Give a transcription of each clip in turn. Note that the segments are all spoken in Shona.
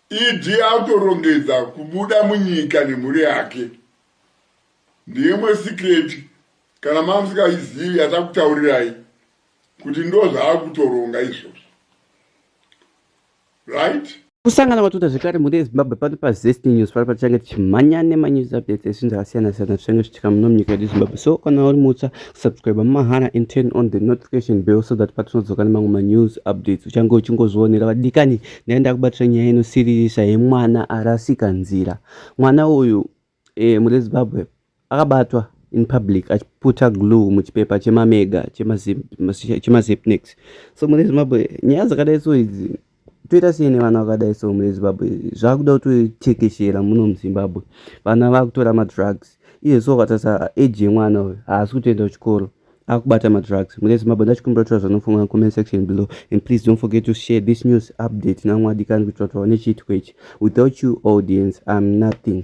ED akutorongedza kubuda munyika nemhuri yake. Ndeyemwe secret kana mamusikayizivi yatakutaurirai kuti ndozvaakutoronga izvozvo. Right? Kusangana kwatuta zvekare mhuri yezimbabwe pano pazest news pari patichange tichimhanya nemanews updates ezvinhu zvakasiyana siyana zvichenge zvichitika muno munyika yedu zimbabwe so kana uri mutsva subscribe mahara and turn on the notification bell so that patinodzoka nemamwe manews updates uchange uchingozvionera vadikani ndaenda kubatira nyaya inosiririsa yemwana arasika nzira mwana uyu e, mune zimbabwe akabatwa in public achiputa glue muchipepa chemamega chemazipnex so mune zimbabwe nyaya dzakadai so idzi toita sei nevana vakadai so muzimbabwe zvakuda kutotekeshera muno muzimbabwe vana vakutora madrugs iye so ukatarisa age yemwana uyu haasi kutoenda kuchikoro akubata madrugs mune zimbabwe ndachikumbira kutora zvanofunga comment section below and please don't forget to share this news update namwadikani kuitira kuti vaone chiitiko ichi without you audience im nothing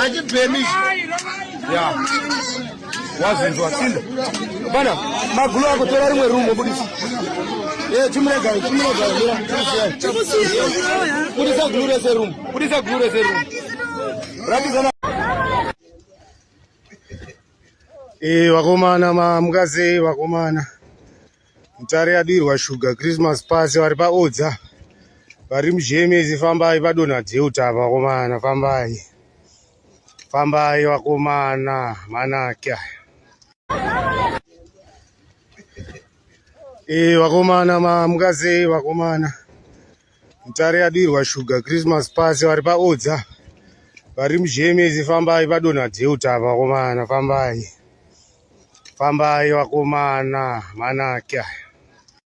achibhemi ya wazinzwa sinda bana magulu ako tora rimwe rumo budisa eh, chimuregai chimuregai budisa gulu rese rumo budisa gulu rese rumo rakizana eh, vakomana mukadzi vakomana mutare yadirwa shuga christmas pasi vari paodza vari mujemezi fambai padonha deuta vakomana fambai fambai vakomana manake e eh, vakomana mamuka sei vakomana mutare yadirwa shuga christmas pasi vari paodza vari mujemezi fambai padonha deuta vakomana fambai Fambai vakomana manake aya.